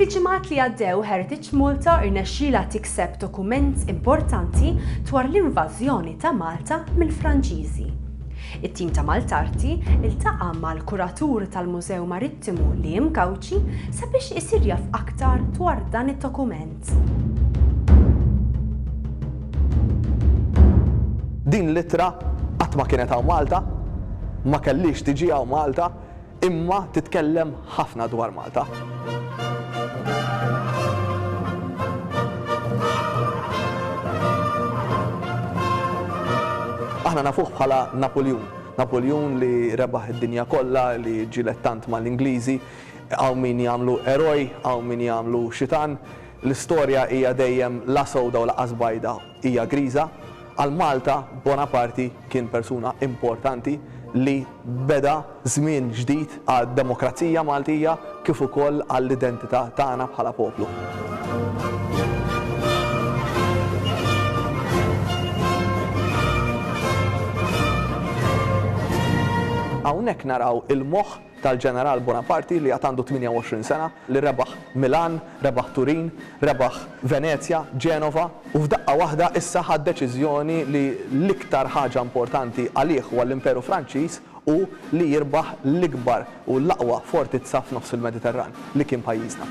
Fil-ġimgħat li għaddew Heritage Malta rnexxielha tikseb dokument importanti dwar l-invażjoni ta' Malta mill-Franċiżi. It-tim ta' Maltarti ltaqa' mal-kuratur tal-Mużew Marittimu Liam Gauci sabiex isir jaf aktar dwar dan id-dokument. Din l-ittra qatt ma kienet hawn Malta, ma kellhiex tiġi hawn Malta, imma titkellem ħafna dwar Malta. Aħna nafuh bħala Napuljun. Napuljun li rebaħ id-dinja kollha, li ġġieled tant mal-Ingliżi, Hawn min jagħmlu eroj, hawn min jagħmlu xitan. L-istorja hija dejjem la sewda u lanqas bajda, hija griża. Għal Malta, Bonaparti kien persuna importanti li beda żmien ġdid għad-demokrazija Maltija kif ukoll għall-identità tagħna bħala poplu. Hawnhekk naraw il-moħħ tal-Ġeneral Buonaparti li għad għandu 28 sena, li rebaħ Milan, rebaħ Turin, rebaħ Venezja, Genova u f'daqqa waħda issa ħa d-deċiżjoni li l-iktar ħaġa importanti għalih u għall-Imperu Franċiż hu li jirbaħ l-ikbar u l-aqwa fortizza f'nofs il-Mediterran, li kien pajjiżna.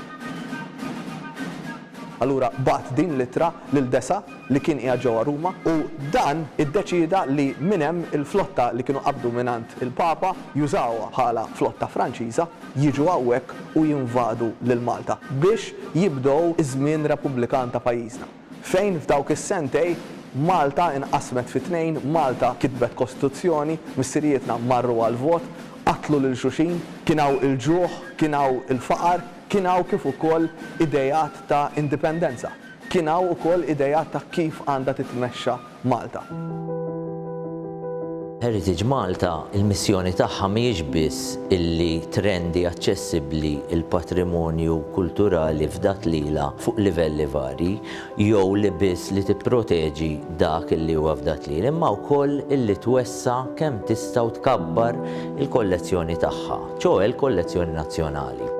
Allura bagħat din l-ittra lil Dessa. li kien qiegħed ġewwa Ruma u dan iddeċieda li minn hemm il-flotta li kienu qabdu mingħand il-Papa jużawha bħala flotta Franċiża jiġu hawnhekk u jinvadu lil Malta biex jibdew iż-żmien Repubblikan ta' pajjiżna fejn f'dawk is-sentej Malta inqasmet fi tnejn, Malta kitbet Kostituzzjoni, missirijietna marru għall-vot, qatlu lil xulxin, kien hawn il-ġuħ, kien hawn il-faqar, kien hawn kif ukoll ideat ta' indipendenza. Kien hawn ukoll ideat ta' kif għandha titmexxa Malta. Heritage Malta, il-missjoni tagħha mhijiex biss illi trendi aċċessibbli l-patrimonju kulturali fdat lilha fuq livelli varji, jew li biss li tipproteġi dak illi huwa fdat lilha, imma wkoll illi twessa' kemm tista' u tkabbar il-kollezzjoni tagħha. ċoe l-kollezzjoni nazzjonali.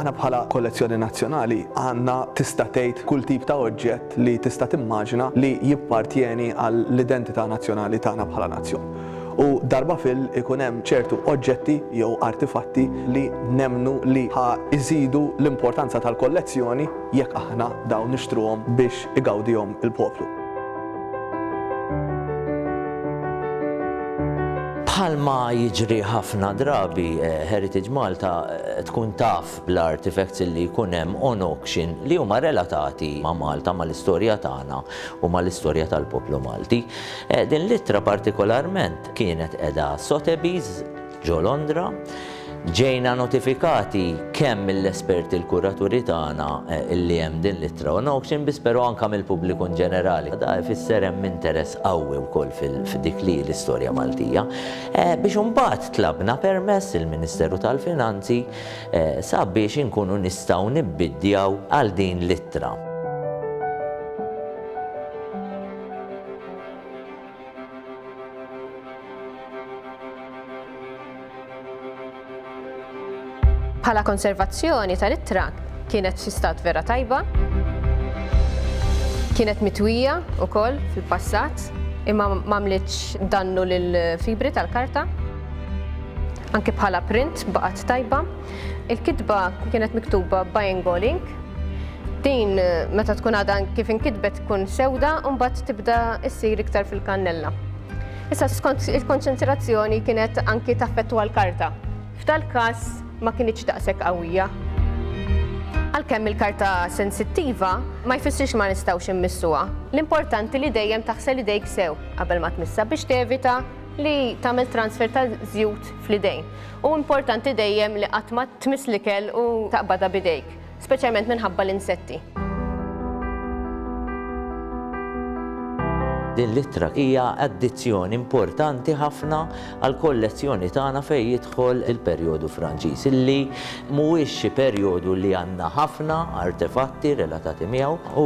Aħna bħala kollezzjoni nazzjonali għandna tista' tgħid kull tip ta' oġġett li tista' timmaġina li jippartjeni għall-identità nazzjonali tagħna bħala nazzjon. U darba fil ikun hemm ċertu oġġetti jew artifatti li nemmnu li ħa jżidu l-importanza tal-kollezzjoni jekk aħna dawn nixtruhom biex igawdihom il-poplu. Bħalma jiġri ħafna drabi, Heritage Malta tkun taf bl-artifacts li jkun hemm on auction li huma relatati ma' Malta, mal-istorja tagħna u mal-istorja tal-poplu Malti. Din l-ittra partikolarment kienet qiegħda Sotheby's, ġo Londra. Ġejna notifikati kemm mill-esperti l-kuraturi tagħna li hemm din l-ittra on auction biss però anke mill-pubbliku in ġenerali. Da jfisser hemm interess qawwi wkoll f'dik li hi l-istorja Maltija. Biex imbagħad tlabna permess il-Ministeru tal-Finanzi sabiex inkunu nistgħu nibbiddjaw għal din l-ittra. Bħala konservazzjoni tal-ittra kienet fi stat vera tajba. Kienet mitwija wkoll fil-passat imma m'għamlitx dannu lill-fibri tal-karta. Anke bħala print baqgħet tajba. Il-kitba kienet miktuba b'Aingo Link. Din meta tkun għadha kif inkitbet tkun sewda u mbagħad tibda issir iktar fil-kannella. Issa skont il-konċentrazzjoni kienet anki taffettwa l-karta. F'dal każ ma kinitx daqshekk qawwija. Għalkemm il-karta sensittiva ma jfissirx ma nistgħux immissuha. L-importanti li dejjem taħsel idejk sew qabel ma tmissha biex tevita li tagħmel transfer ta' żjut fl-idejn. Hu importanti dejjem li qatt ma tmiss l-ikel u taqbadha b'idejk, speċjalment minħabba l-insetti. Din l-ittra hija addizzjon importanti ħafna għall-kollezzjoni tagħna fejn jidħol il-perjodu Franċiż, li mhuwiex xi perjodu li għandna ħafna artefatti relatati miegħu, u